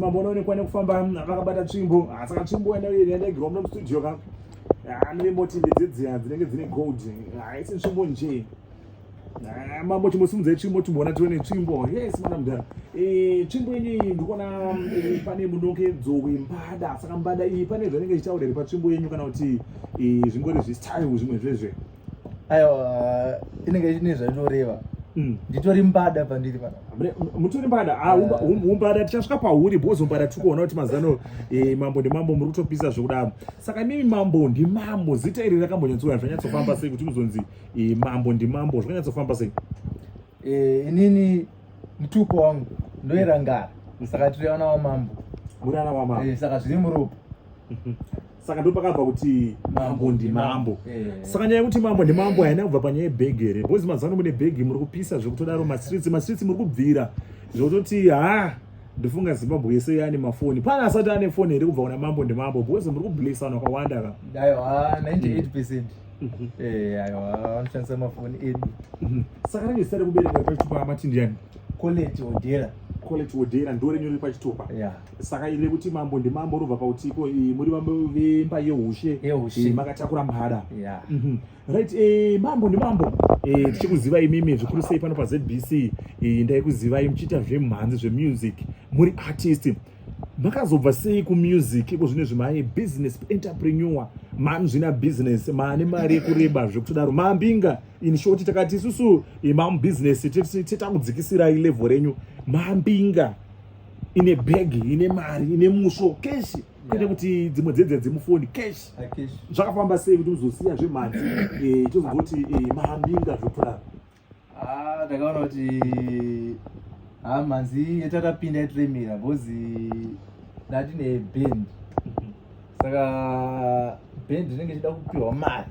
Mambo unoonekwa nekufamba vakabata tsvimbo ah, saka tsvimbo yandaigirwa muno mustudio ka ah, nevemboti ndedzidziya dzinenge dzine gold haisi ah, tsvimbo njee mambo chimosimudzai tsvimbo timboona tione tsvimbo yes mwana mudhara eh, tsvimbo ini ndikuona eh, pane munongedzo wembada saka mbada iyi pane zvanenge zvichitaura here patsvimbo yenyu kana kuti eh, zvingori zvistyle zvimwe zvezve aiwa inenge ine zvainoreva mm. nditori mbada pandiri pana mutori mbada ah, umbada tichasvika pauri because umbada tiri kuona kuti mazano eh, mambo ndimambo muri kutopisa zvekudaro saka imimi mambo ndimambo zita iri rakambonyatsoa zvanyatsofamba sei kuti kuzonzi eh, mambo ndimambo zvakanyatsofamba sei eh, inini mutupo wangu ndoerangara saka tiri ana wamambo muri ana wamambo saka zviri muropa mhm. saka ndo pakabva kuti mambo ndimambo eh. saka nyaya yekuti mambo ndimambo haina kubva panyaya yebhegi here bcause mazano mune bhegi muri kupisa zvekutodaro mastreets mastreets muri kubvira zvekutoti ha ndofunga zimbabwe yese yaane mafoni pane asati ane foni here kubva kuna mambo ndimambo bcause muri kublesana kwawanda ka aiwa 98 percent mhm. eh, aiwa vanoshandisa mafoni edu mhm. saka range zita rekuberekwa pachitupa matindiyani college odera college odera ndorenyori pachitupa yeah. saka ine kuti mambo ndimambo unobva pakuti iko eh, muri vambo vemba yeushe eh, makatakura mhada mhm. right eh, mambo ndimambo tichikuzivai imimi zvikuru sei pano pazbc ndaikuzivai muchiita zvemhanzi zvemusic muri artist makazobva sei kumusic iko zvine zvimai business entrepreneur mani zvina business mane mari yekureba zvekutodaro mambinga in short takati isusu mamubusiness titakudzikisirai level renyu mambinga ine bag ine mari ine musvo keshi kuita kuti dzimwe dzedze dzemufoni keshi zvakafamba sei kuti muzosiya zvemhanzi eh, tozongoti eh, mahambinga zvotora ah, ndakaona kuti ah, mhanzi yatakapinda yatiremera because ndatine band mhm. saka band inenge ichida kupiwa mari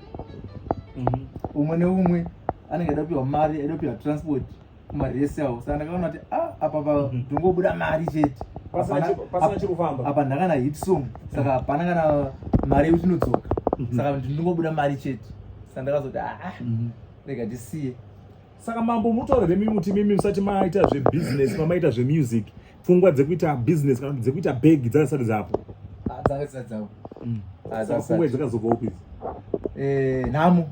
mhm. umwe neumwe anenge aida kupiwa mari aida kupiwa transport kumaresi awo saka ndakaona kuti ah, apa pa mhm. ndongobuda mari chete pasina chikufamba apa ndakana hit song saka hapana kana mari yekuti inodzoka mhm. saka ndinongobuda mari chete saka ndakazoti aa ah, mhm. rega ndisiye saka mambo mutorere mimuti mimi musati maita zvebusiness mamaita zvemusic pfungwa dzekuita business kana dzekuita bag dzakasati dzapo ah, dzanga dzisati dzapo mm. pfungwa dzakazobva upi eh, nhamo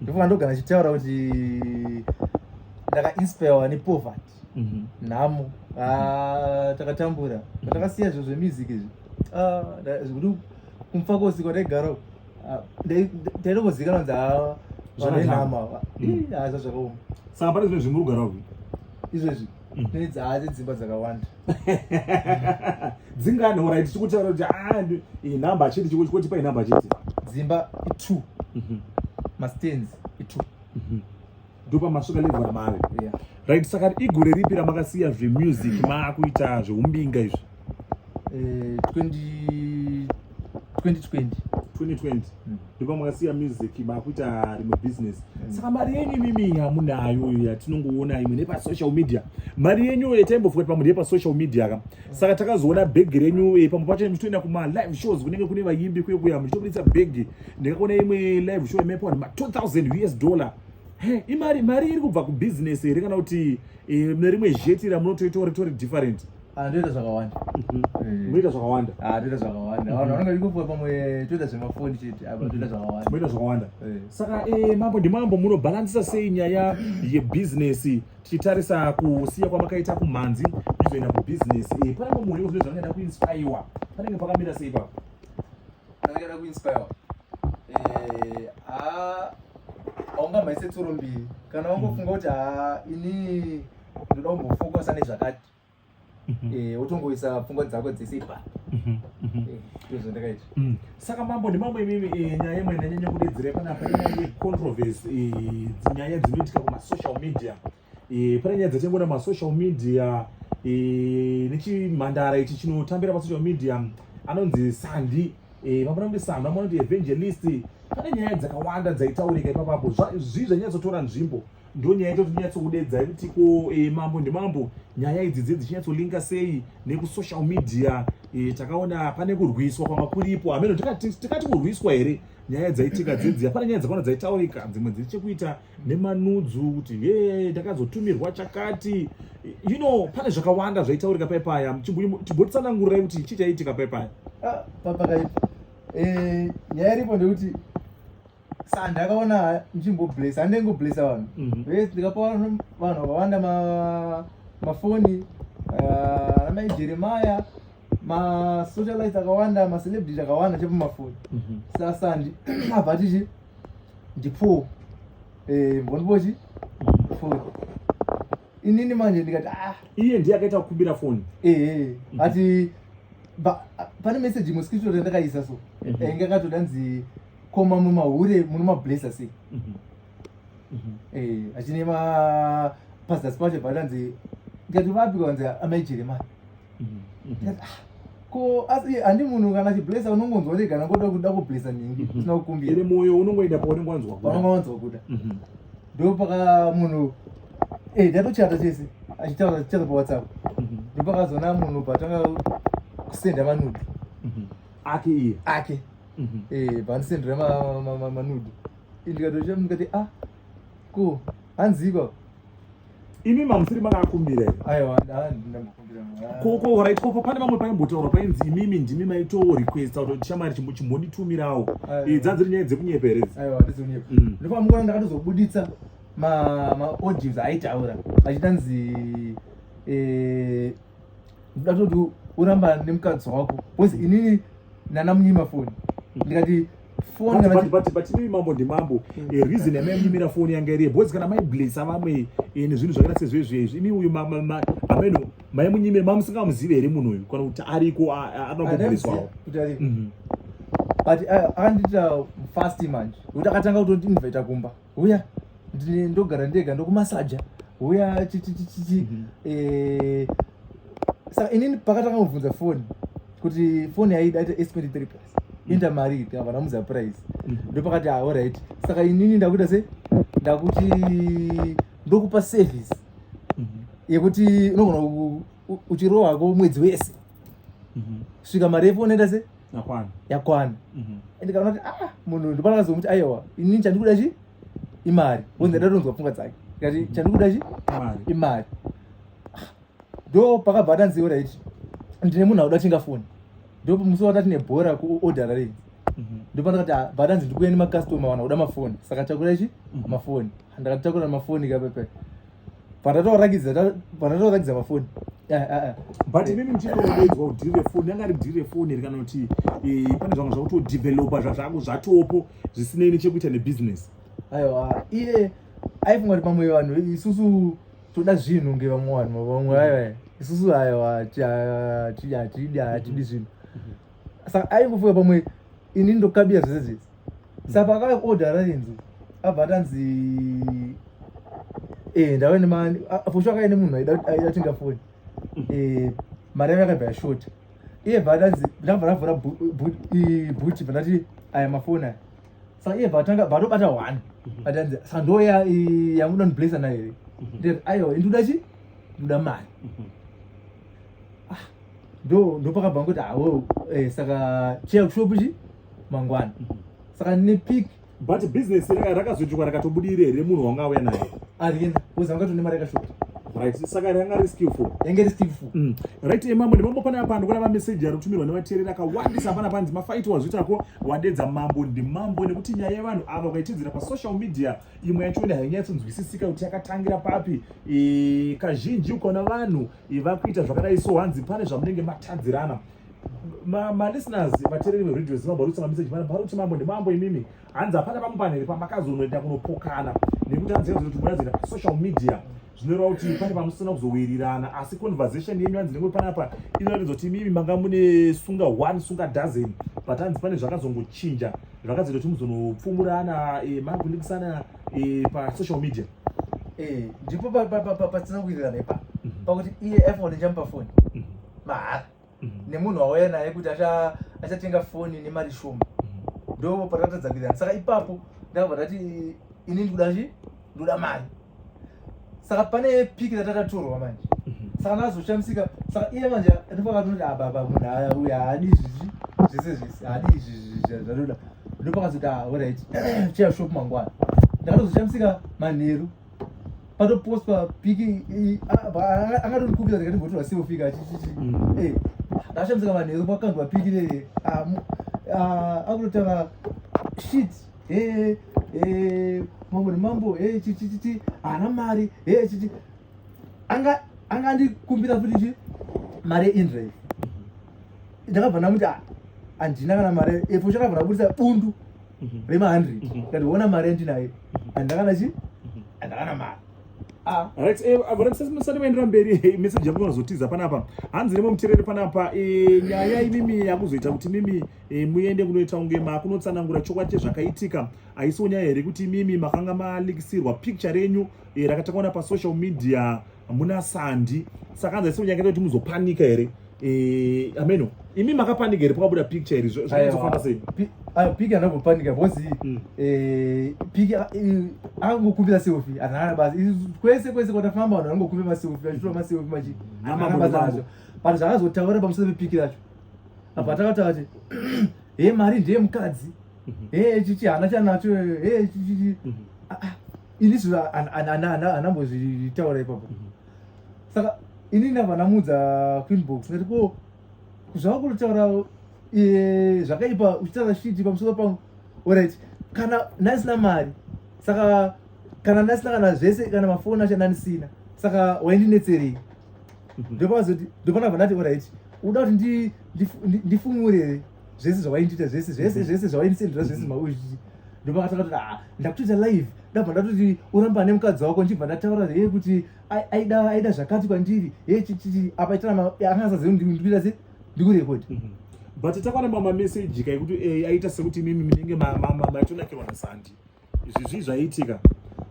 ndofunga ndogara achitaura kuti ndakainspirwa nepoverty mhm. nhamo ah, takatambura takasiya zviro zvemusic izvi ah, zvekuti kumfa kosiko ndaigara ah, ndaitokozikana kunzi haa vanenhama hazva zvakaoma saka pane zvimwe zvimurugara uku izvezvi Mm. Pedzi haadzi dzimba dzakawanda. Dzingani ora iti chikutaura kuti ah inamba chiti chikuti kuti pa inamba chiti. Dzimba 2. Mhm. Ma stands 2. Mhm. Ndopa masuka level ramari. Yeah. Right saka igore ripi ramakasiya zve music mm. ma kuita zve umbinga izvi. eh, 20 2020 2020 ndipo makasiya music makuita rimwe business mm. saka mari yenyu imimi hamunayo iya tinongoona imwe nepasocial media mari yenyu yetaimbofuka pamwe ndeyepasocial media ka mm. saka takazoona bhegi renyu eh, pamwe pacho muchitoenda kumalive shows kunenge kune vayimbi kuye kuya muchitobuditsa bhegi ndikakuona imwe live show imepa ma 2000 us dollar imari mari iri kubva kubusiness here kana kuti Eh, nerimwe zheti ramunotoitawo ritori different anoita ah, zvakawanda mhm. eh. moita zvakawanda anoita ah, zvakawanda vanhu vanenge vachingopuwa pamwe toita zvemafoni chete apa ah, toita mhm. zvakawanda moita zvakawanda eh. saka eh, mambo ndimambo munobhalansisa sei nyaya yebhizinesi tichitarisa kusiya kwamakaita kumhanzi kuzoenda kubhizinesi panenge muhuri zvine zvamakaenda kuinspaiwa panenge pakamira sei ipapo ndakada kuinspire eh ah aunga maise tsoro mbiri kana wangofunga kuti ah ini ndoda kumbofokusa nezvakati mhm. eh wotongoisa pfungwa dzako dzese ipa mhm, mhm. eh, ndozvandakaita mm. saka mambo ndimambo imimi eh, nyaya imwe ndanyanya kudedzera panapa inyaya yecontroversy eh, nyaya dzinoitika kumasocial media e, pane nyaya dzatingoona masocial media e, nechimhandara ichi chinotambira pasocial media anonzi sandi e, vamona kuti sandi vamona kuti evangelist pane nyaya dzakawanda dzaitaurika ipapapo zvii zvanyatsotora nzvimbo ndo nyaya ito tinyatsokudedza yekuti ko e, mambo ndimambo nyaya idzi dze dzichinyatsolinga sei nekusocial media e, takaona pane kurwiswa kwanga kuripo hameno tikati kurwiswa here nyaya dzaitika dzedziya pane nyaya dzakawanda dzaitaurika dzimwe dziri chekuita nemanudzu kuti ye ndakazotumirwa chakati you know pane zvakawanda zvaitaurika paipaya timbotsanangurai kuti chii chaiitika paipaya ah, papakaipa eh, nyaya iripo ndekuti sandi akaona ndichimboblesa handei ngoblesa vanhu mhm. vese ndikapa vanhu vakawanda mafoni ah, ana mai jeremaya masocialite akawanda macelebrity akawanda chepamafoni mhm. sasandi abva tichi ndipoo eh, mbondipochi foni inini manje ndikati ah. iye ndiye akaita kukumbira foni eh, eh. Mhm. ati pane message imwe screenshot yandakaisa so mhm. ainge akatodanzi koma mumahure muno mablesa sei mhm. eh, achine ma pastors pacho padanzi ndikati vapi kwanzi amai jeremani ah. ko asi handi munhu kana chiblesa unongonzwa rega nangoda kuda kublesa nhingi mhm. usina kukumbira ine mwoyo unongoenda paunenge wanzwa kuda paunenge wanzwa kuda mhm. ndo paka munhu eh ndatochata chese achitaura achitaura pawhatsapp mhm. ndo pakazoona munhu patanga kusenda manudi ake iye ake eh pandisendera manudi ndikatochita ndikati ah ko hanziko imi mamusiri makakumbira koko pane vamwe paimbotaura painzi imimi ndimi maitowo requesta kuti tishamari chimbonditumirawo idza dziri nyaya dzekunyeperedza mm. ndopamukono ndakatozobuditsa maaudios aitaura achitanzi eh, ndoda kuti uramba nemukadzi wako bcause inini nana munyima foni ndikati fonibatibatibatibatibi mambo ndimambo hmm. eh, reason yamainyimira foni yanga iriye bcause kana maiblesa vamwe eh, nezvinhu zvakaita sezvezvezvi imi uyu ameno maimunyimira mamusingamuzive here munhu uyu kana kuti ariko anogobleswawo mhm. but eh, akandiita fast manje nekuti akatanga kutondiinvaita kumba huya ndogara ndega ndokumasaja huya chichichichi mhm. eh, saka inini pakatanga kubvunza foni kuti foni yaida ita s 23 plus mhm. inda mari iti havana mudza price mhm. ndopakati ah, orit saka inini ndakuita se ndakuti ndokupa service yekuti unogona uchirohako mwedzi wese mm -hmm. svika mari yefoni enda se yakwana yakwana mm -hmm. and kana kuti ah munhu ndopana kazomuti aiwa ini chandikuda chi imari wonzi ndada tonzwa pfungwa dzake kati mhm. chandikuda chi imari imari ah, ndo pakabva atanziwo raiti ndine munhu akuda tinga foni ndo musi wata tine bhora kuodhara rei mhm. ndopana kati ah, bhatanzi ndikuya nemacustoma wana kuda mafoni saka takura chi mhm. mafoni ndakati takura mafoni kapepe pandatorakidza pandatorakidza mafoni eh, eh, eh. but imimi ndichitoedzwa kudhiri refoni anga ari dhiri refoni here kana kuti pane zvanga zvakutodevelopa zvazvako zvatopo zvisinei nechekuita nebusiness aiwa iye aifunga kuti pamwe vanhu isusu toda zvinhu nge vamwe vanhu vamwe aiwa isusu aiwa hatidi hatidi zvinhu saka aingofunga pamwe ini ndokabira zvese zvese saka pakauya order rainzi abva atanzi eh, ndave nemani fosho akaenda munhu aida tinga foni eh, mari yavo yakabva yashota iye bva atanzi ndabva ndavhura bhuti bva ndati aya mafoni aya saka iye bva atanga bva atobata one mhm. atanzi saka ndoya yamuda ndiblesa nayo here mhm. ndati aiwa ndikuda chi ndikuda mari mhm. ndo ndopakabva ngokuti hawo eh, saka cheya kushopu chi mangwana saka nepik but business raka- rakazoitwa rakatobudire here munhu wanga auya naye arienda kozi vanga tone mari yakashota right saka ranga ri skillful yange ri skillful Mm. right emambo nemambo pane apa ndikuona mameseji anotumirwa nevateereri akawandisa pana panzi mafaiti wazviitako wadedza mambo ndimambo nekuti nyaya yevanhu ava ukaitedzera pasocial media imwe yacho ine hainyatsonzwisisika kuti yakatangira papi Eh, kazhinji ukaona vanhu vakuita zvakadai so hanzi pane zvamunenge matadzirana malisteners vatereri veradio zimambo varikutsanga meseji vana vari kuti mambo ndimambo imimi hanzi hapana vamwe vanhu here pamakazonoenda kunopokana nekuti hanzi kuti muna zvienda pasocial media zvinoreva kuti pane pamusina kuzowirirana asi conversation yenyu hanzi nemwe panapa inoratidza kuti imimi manga mune sunga one sunga dozen but hanzi pane zvakazongochinja zvakazoita kuti muzonopfumurana eh, makundikisana eh, pasocial media eh, ndipo pasina kuwirirana ipa mhm. pakuti iye iphone ichamupa foni mhm. mahara mhm. nemunhu wauya naye kuti achatenga foni nemari shoma ndo patatadza kuwirirana saka ipapo ndakabva ndati ini ndikuda chi ndoda mari saka pane piki ratakatorwa manje saka ndazoshamisika saka iye manje ndipo akatonoti ababa ah, munhu uya haadi izvizvi zvese zvese haadi izvizvi zvatoda ndopakazoti ah, alright chaya shop mangwana ndakatozochamisika manheru patopostwa piki angatondikupira zika ndimbotora selfika achichiti mm. eh, ndakachamisika manheru pakandwa piki leye ah, ah, akutotaura shit eh, eh, mambo nemambo chichichiti haana mari chichi anga andikumbira futi chi mari inrei ndakabva ndamuti ah, handina kana mari epo chakabva ndabudisa bundu mhm. remahandred mhm. ndikati ona mari yandinayo mhm. handakana chi handakana mari ah. right eh, vatisati vaendera mberi eh, message yangu inozotiza panapa hanzi nemomutereri panapa eh, nyaya imimi yakuzoita kuti mimi muende kunoita kunge makunotsanangura chokwadi chezvakaitika haisiwo nyaya here kuti imimi makanga malikisirwa picture renyu rakatakaona pasocial media hamuna sandi saka hanzi aisi kunyangeta kuti muzopanika here eh, ameno imi makapanika here pakabuda picture iri zvaizofamba sei piki ana kupanika because hmm. eh, piki ah, eh, angokumbira selfie anana basi kwese kwese kwatafamba vanhu vangokumbira maselfie vachitora maselfie machi anana basi acho but zvakazotaura pamusoro pepiki racho apa takataura kuti he mari ndeye mukadzi mhm. he chichi hana chanacho he chichi mhm. ah, ah. ini zvi anambozvitaura ipapo mhm. saka ini ndava namudza queenbox ndati ko zvava kutotaura e, zvakaipa uchitaura shiti pamusoro pangu orit kana ndandisina mari saka kana ndandisina kana zvese kana mafoni acho ndandisina saka waindinetserei mhm. ndopazoti ndopanabva ndati orit uda kuti ndifumure here zvese zvawaindiita zvese zvese zvese zvawaindisendera zvese mm-hmm. mauizvii ndopakatanga kuti ah, ndakutoita live ndabva ndatoti uramba ane mukadzi wako ndichibva ndataura hee kuti aida aida zvakati kwandiri hee chichii apa itana angasazivi ndikuita se ndikurekodi mm-hmm. but takwana mamameseji kaekuti eh, aita sekuti imimi minenge maitonakirwa nasandi izvi zvii zvaiitika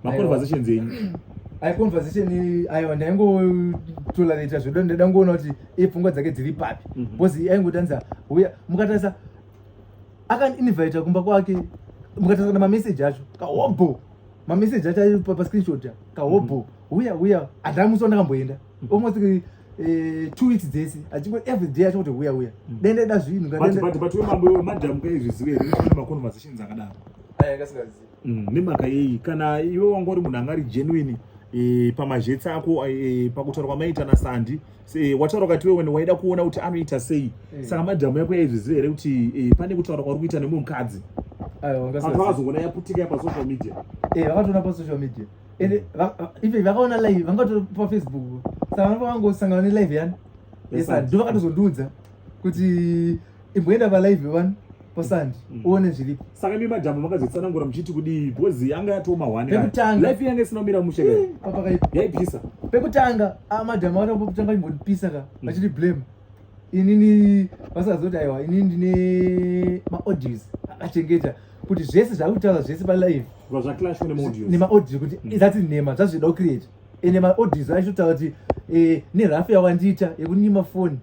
maconversations enyu ai conversation aiwa ndaingotolareta zvedu ndaida ngoona kuti ipfungwa dzake dziri papi mhm. because aingotanza uya mukatarisa akaninvita kumba kwake mukatarisa namameseji acho kahobho mameseji acho ari pascreenshot kahobho mhm. uya uya handamusi wandakamboenda mhm. almost eh, two weeks dzese achingo every day achingoti huya huya mm. dende da zvinhu but we mambo iwe madam ka izvi zive here kuti ma conversations akadaro aya kasingazivi mm, nemhaka yeyi kana iwe wanga uri munhu anga ari genuine eh, pamazhetsi ako eh, pakutaura kwamaita nasandi wataura kati wewe waida kuona kuti anoita sei saka madhamu yako yaizviziva here kuti pane kutaura kwauri kuita nemumwe mukadzi vakazogona yaputika yapasocial media vakatoona pasocial media ende ive vakaona live vangato pafacebook saka vanofa vangosangana nelive yani esa ndo vakatozondiudza kuti imboenda palive vani pasandi mm. uone zviripo saka mi madhamu makazotsanangura muchiti kudii bhozi yanga yatoma hwanepekutangaif yanga isina kumira mushe eh, papakaipa yaipisa pekutanga ah, madhamu akatopotanga imbondipisa ka mm. vachiti blame inini vasazoti aiwa inini ndine maaudios akachengeta kuti zvese zvave kutaura zvese palive nemaaudio kuti mm. zati nhema zvazvida kucreate ende maaudios aitotaura kuti eh, nerafu yawandiita yekunyima foni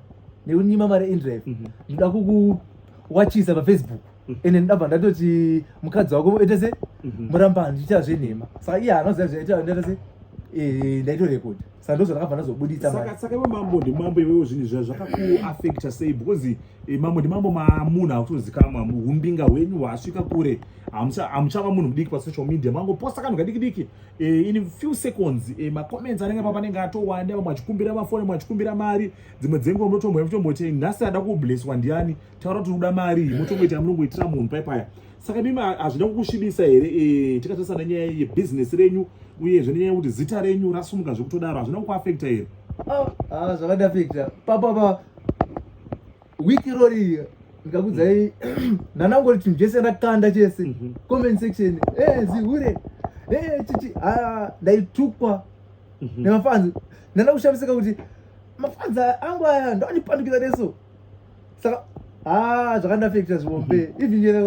nekunyima mari endrive mhm. ndinoda kukuwachisa pafacebook mm. ende ndabva ndatoti mukadzi wako ita se mhm. murambani ndichiita zvenhema saka iye hanoziva zvaita ndaita se eh, ndaitorekodha saka ndozvo ndakabva ndazobuditsa saka saka iwe mambo ndimambo iwewo zvinhu zva zvakakuaffecta sei because eh, mambo ndimambo mamunhu akutozikamwa umbinga hwenyu hwasvika kure hamuchava munhu mudiki pasocial media mangoposta kanhu kadikidiki eh, in few seconds eh, macomments anenge pa panenge atowanda vamwe achikumbira mafoni vamwe achikumbira mari dzimwe dzenguva munotomboya mutomboti nhasi ada kublesswa ndiani taura kuti uda mari mutongoita munongoitira munhu paipaya saka mimi hazvina kukusvibisa here eh, tikatarisa nenyaya yebhizinesi renyu uyezve nenyaya yekuti zita renyu rasumuka zvekutodaro hazvina kukuafekta here ah, ah, zvakandafekta papapa wiki rori ndikakudzai ndanangoti chinhu chese ndakanda chese mhm. comment section eh, zihure eh, chichi ah, ndaitukwa mhm. nemafanzi ndanda kushamisika kuti mafanzi angu aya ndoandipandukira neso saka haa ah, zvakandafekta zvihombe mhm. even yena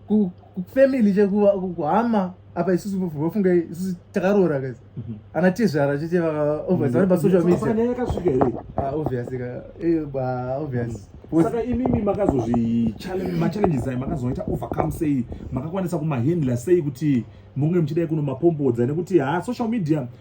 kufamily chekuva kuhama apa isusu vofunga isusu takaroora guys mhm. ana tezvara chete vaovasi vane pasocial mediaakasvika here obviously ka eh, obviously mhm. saka imimi makazozvimachallenges ayo makazoita overcome sei makakwanisa kumahandler sei kuti munge muchidai kunomapombodza nekuti haa social media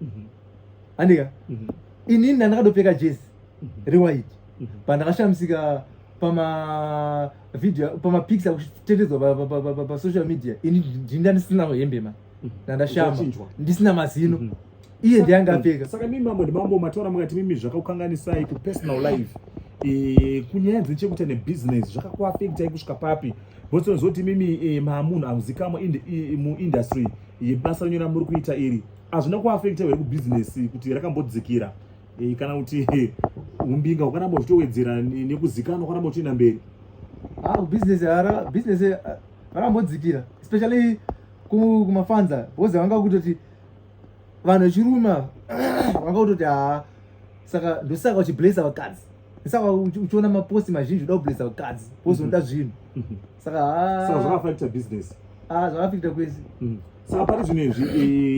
mhm. andika mhm. inini ndandakadopfeka jezi mhm. rewhite pandakashamisika pama video pama pics akutetedzwa pa social media ini ndinda ndisina hembe ma ndandashama ndisina mazino iye ndiye angapfeka saka mimi mambo ndimambo mataura mukati mimi zvakakukanganisai ku personal life Eh, kunyaya dzechekuita nebusiness zvakakuafektai kusvika papi bcause unozoti mimi eh, maamunhu amuzikamwa muindustry yebasa renyu ramuri kuita iri hazvina kuafekta here kubhizinesi kuti rakambodzikira e, kana kuti umbinga ukaramba uchitowedzera nekuzikanwa ukaramba uchienda mberi ah, bhizinesi bhizinesi eh, rakambodzikira especially kumafanza because vanga kutoti vanhu vechiruma vanga kutoti haa saka ndosaka uchiblesa vakadzi saka uchiona maposti mazhinji uda kublesa vakadzi because unoda zvinhu saka ah. saka zvakafakita business ah zvakafakita kwese mm. saka pari zvino izvi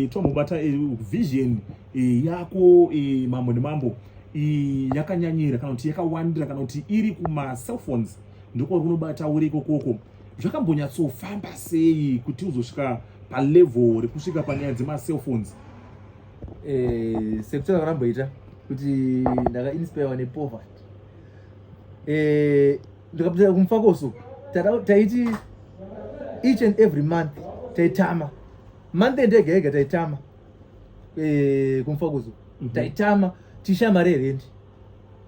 eh, tomubata eh, vision eh, yako mambo nemambo yakanyanyira kana kuti yakawandira kana kuti iri kumacellphones ndiko kunobata uri ikokoko zvakambonyatsofamba sei kuti uzosvika palevel rekusvika panyaya dzemacellphones eh, sekutara varamboita kuti ndakainspirewa nepoverty eh, ndikapinda kumufakoso taiti each and every month taitama month end ega ega taitama eh, kumufakoso mhm. taitama tichishaya mari yerendi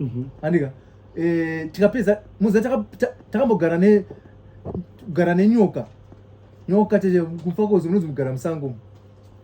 mhm. andika eh, tikapedza muza takambogara ne kugara nenyoka nyoka tete kumufakoso munonzi mugara musango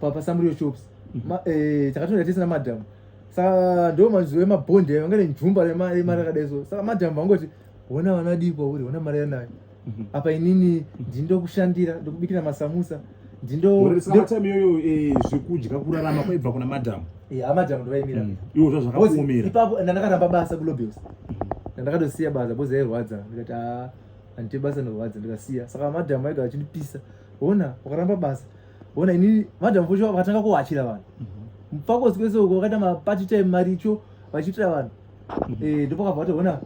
papa samuriyo shops mhm. eh, takatonda tese namadhamu saka ndo mazuva emabhondi ayo angane njumba remari rakadai so saka madhamu vangoti hona vana dii kwauri hona mari yanayo mhm. apa inini ndindokushandira ndokubikira masamusa ndindoatime iyoyo eh, zvekudya kurarama kwaibva kuna madhamu eh, amadhamu ndovaimira mm. iwo zvazvakaomera ipapo ndandakaramba basa kulobels mhm. ndandakatosiya basa bozi yairwadza ndikati ah, handite basa norwadza ndikasiya saka madhamu aiga vachindipisa hona ukaramba basa Ona ini madam Fusho vakatanga kuwachira vanhu. Mhm. Mpako sikese uko vakaita ma party time maricho vachitira vanhu. Mhm. Eh ndipo kabva kuti ona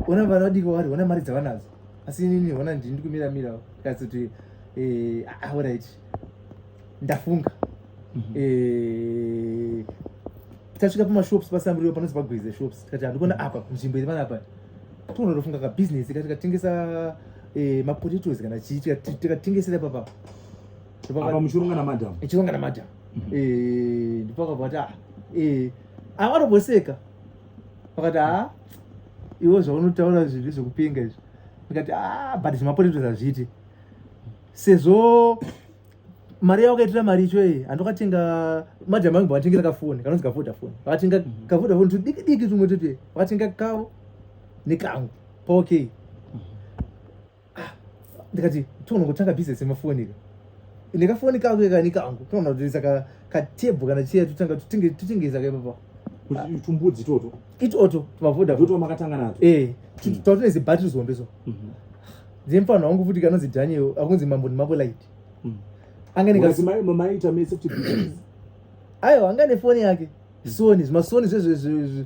ona vana vadiko vari ona mari dzavanadzo. Asi ini ona ndini kumira mira kasi kuti eh ah, all right. Ndafunga. Mm -hmm. Eh tasvika pama shops pasamburio panonzi pagwize shops tikati handikona apa nzvimbo iri panapa tonotofunga kabusiness katikatengesa eh, mapotatos kana chii tikatengesera papa apa muchirunga na madam chirunga na madam mhm. eh ndipo akabati ah eh avaroboseka vakati ah iwo zvaunotaura zviri zvekupinga izvi ndikati ah but zvimapoteto zvazviti sezvo mari yavo kaitira mari icho iyi andokatenga madam angu vakatengera kafoni kanonzi kavodafoni vakatenga mhm. kavodafoni tudiki diki tumwe tute vakatenga kavo nekangu paokei ah, ndikati toona kutanga business yemafoni ka ndikafoni kako kekani kangu toona kutoisa katebho kana chiya totanga totengesa ka ipapa tumbudzi itoto itoto tumavodaoto makatanga nato e tatoine zibattery zihombe so mhm. dzemfana wangu futi kanonzi daniel akunzi mambo nemambo light mhm. anganeaiwa anga nefoni yake soni zvimasoni zvezvezvezve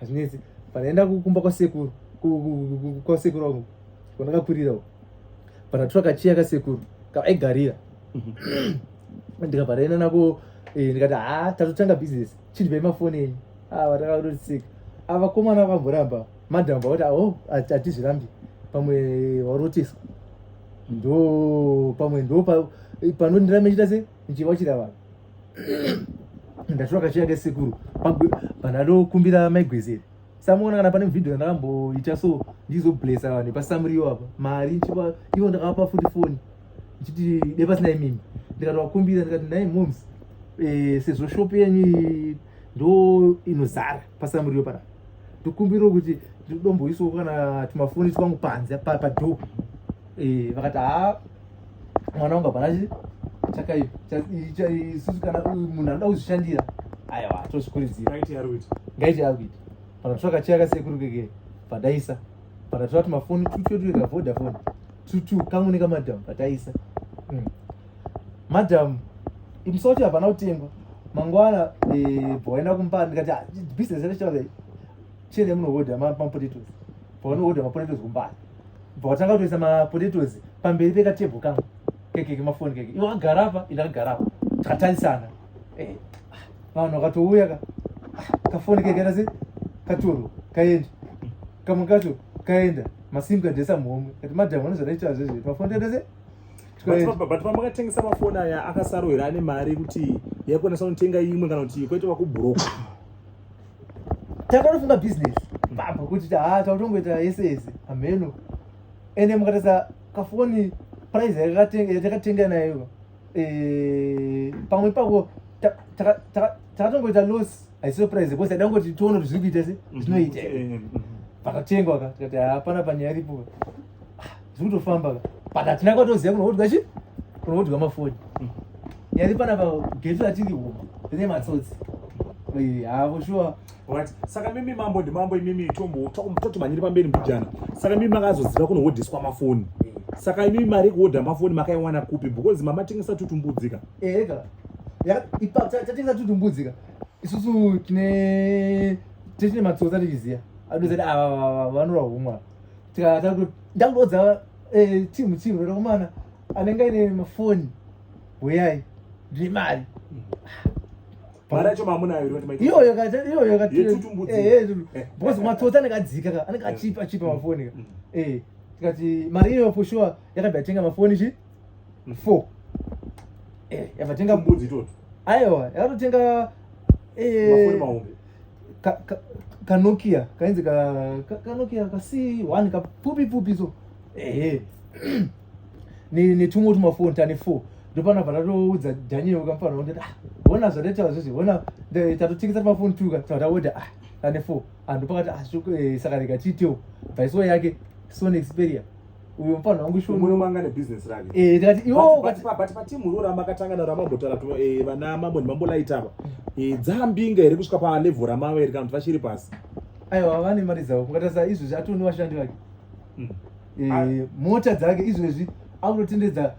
hazvinetsi panaenda kumba kwasekuru kwasekuru vangu kwandakakurira uko panatora kachiya kasekuru kaaigarira ndikabvaraenda nako eh, ndikati ha tatotanga business chindivai mafoni enyu ah, vatakatotiseka ah, vakomana vakamboramba madam vakuti aho oh, hatizvirambi pamwe varoteswa ndo pamwe ndo panondiramba chita se ndichiva chira vanhu ndashuva kachiya kesekuru pandanokumbira maigwezeri samuona kana pane video ndakamboita so ndizoblesa vanhu pasamuriyo apa mari nchipa ivo ndakavapa futi foni ndichiti de pasina imimi ndikatovakumbira ndikati nai moms eh, sezvo shop yenyu ndo inozara pasamuriyo pana ndikumbirawo kuti ndidomboisawo kana tumafoni twangu panze padoo eh, vakati haa mwana wangu hapana chakaiisusu kana munhu anoda kuzvishandira aiwa tozvikurudzira ngaiti yakuita pana tsvaka chiya kasekuru keke padaisa pana tsvaka tumafoni tututuwe kavodafoni tutu kamwe nekamadhamu pataisa mm. madhamu imusi wacho hapana kutengwa mangwana eh, bhoenda kumba ndikati ah, business yacho chene munohodha mapotatoes paanohodha mapotatoes kumbani bva watanga kutoisa mapotatoes pamberi pekatebho kangu kekeke mafoni keke iwe wakagara apa ini akagara apa takatarisana eh, ah, vanhu vakatouya ka ah, kafoni keke nasi katoro kaenda kamwe kacho kaenda masimu kadesa mhomwe kati madhamu vanozvaraita zvezve mafoni tadese but pamakatengesa mafoni aya akasarohera ane mari kuti yaikwanisa kunotenga imwe kana kuti kwaita vakubhuroka takanofunga business mbabva kuti taa tautongoita yese yese hameno ende mukatasa kafoni price yatakatenga nayo eh, pamwe pako takatongoita loss haisiyo price because taida kungoti tione kuti zviri kuita se mhm. zvinoita mhm. pakatengwa ka tikati hapana panyaya iripo tiri kutofamba but hatina kwatoziva kunoodwa chi kunoodwa mafoni mm. yari panapa getu ratiri huma rine matsotsi havo shuwa saka mimi mambo ndimambo imimi totomanyiri pamberi mbijana saka mimi makazoziva kunohodhiswa mafoni saka imimi mari yekuhodha mafoni makaiwana kupi because mamatengesa tutumbudzika ega tatengesa tutumbudzika isusu tine tine matsotsi atichiziva adozati ava vanorwa humwa ndangoudza eh, timu timu rokomana anenge aine mafoni huyai ndimari mari yacho mamunaiyoyo because matsotsi anenge adzika ka anenge achipa achipa mm. mafoni ka mm. eh, tikati mari iyoyo for sure yakabva yatenga mafoni chi mm. four eh, yavatenga mbudzi itoto aiwa yakatotenga eh, mafoni mahombe ka, ka, kanokia kainzi ka, ka, kanokia kasi one kapfupi pfupi so ehe netumwe tumafoni tane four ndopana patatoudza daniel kamufana kuti ah hona zvataitawa zvizvi hona tatotikisa tumafoni tuka tataoda ah tane four anhu pakati ah eh, saka rega tiitewo bhaisiwo yake sony xperia uyo mfana wangu shoni muno manga ne business rake eh ndati yo but but but but timu rora makatanga na ramambo tara to eh vana mambo ni mambo light apa eh dzambinga iri kusvika pa level ramama iri kana vachiri pasi ayo havane mari dzavo kungatasa izvo zvati ni washandi vake hmm. eh mota dzake izvo izvi akutotendedza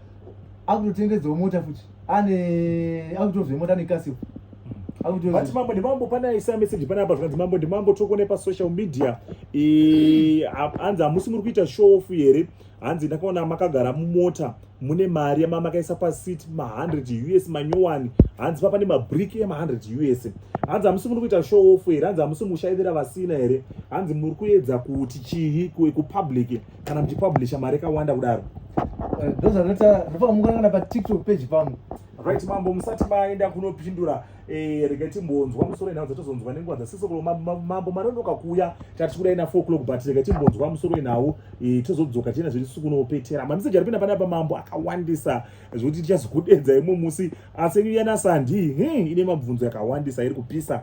akutotendedza mota futi ane akutovhe mota nekasipo vati mambo ndimambo pane aisa message pane apa zvikanzi mambo ndimambo tokone pasocial media hanzi hamusi muri kuita show off here hanzi ndakaona makagara mumota mune mari yamamakaisa pasit ma100 us manyowani hanzi papa nemabriki ema100 us hanzi hamusi muri kuita show off here hanzi hamusi mushaivira vasina here hanzi muri kuedza kuti chii kupublic kana muchipublisha mari yakawanda kudaro eh, ndozvanoita ndopamukanana patiktok page pangu right mambo musati maenda kunopindura eh, rega timbonzwa musoro yenhau dzatozonzwa nenguva dzasisokolo mambo manonoka kuuya tati kudai na 4 o'clock but rega timbonzwa musoro yenhau eh, tozodzoka tiena zviri sukunopetera mameseji aripinda pana pa mambo akawandisa zvekuti tichazokudedza imwe musi asi nyuya nasandi hmm, ine mabvunzo yakawandisa iri kupisa